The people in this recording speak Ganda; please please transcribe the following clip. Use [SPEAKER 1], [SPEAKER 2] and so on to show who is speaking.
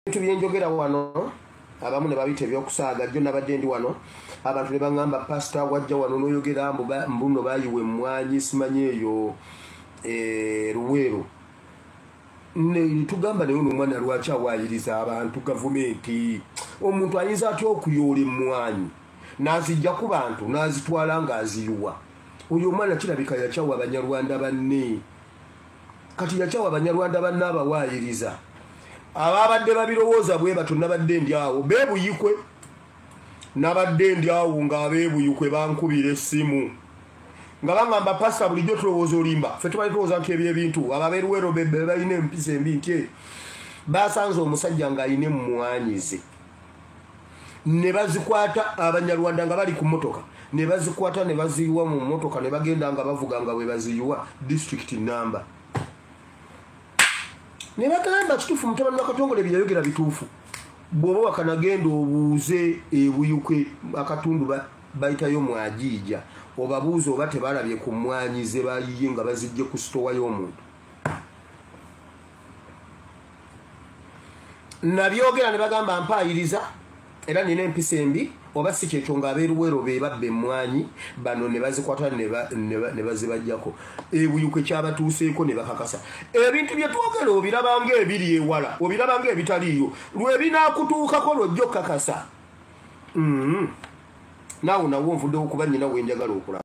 [SPEAKER 1] ebintu byenjogera wano abamu ne babita ebyokusaaga jjo nabadde ndi wano abantu ne baŋamba pasita wajja wano noyogera mbuno bayiwa emmwanyi simanyi eyo eh, luweero netugamba naye ono omwana lwaki awayiriza abantu gavumenti omuntu ayinza atya okuyoola emmwanyi nazijja ku bantu nazitwala ng'aziyiwa oyo omwana kirabika yakyawa abanyarwanda banne kati yakyawa banyarwanda banna abawaayiriza ababadde babirowooza bwe batyo nabadde ndi awo bebuyikwe nabadde ndi awo nga abebuyikwe bankubira essimu nga bangamba pasa bulijjo tulowooza olimba fe tubali tulowooza nti ebyo ebintu ababeruwero balina empisa embi nti basanze omusajja ng'alina emmwanyize ne bazikwata abanyarwanda nga bali ku motoka ne bazikwata ne baziyiwa mu motoka ne bagenda nga bavuga nga bwe baziyiwa district namba ne bagamba kituufu mutabani wa katongole byeyayogera bituufu bw'oba wakanagenda obuuze ebuyuke akatundu bayitayo mwajiija obabuuza oba tebalabye ku mmwanyi ze bayiye nga bazijje ku sitowa y'omuntu nabyogera ne bagamba mpaayiriza era nina empisa embi oba si kyekyo ng'abeeruwero be babba emmwanyi bano ne bazikwata ne bazibajjako ebuyuko ekyabatuuseeko ne bakakasa ebintu bye twogera obirabanga ebiri ewala obirabanga ebitaliiyo lwe binaakutuukako lwojja okukakasa mm-hmm. naawe nawo nvuddewo kuba nyina wenjagala okulaba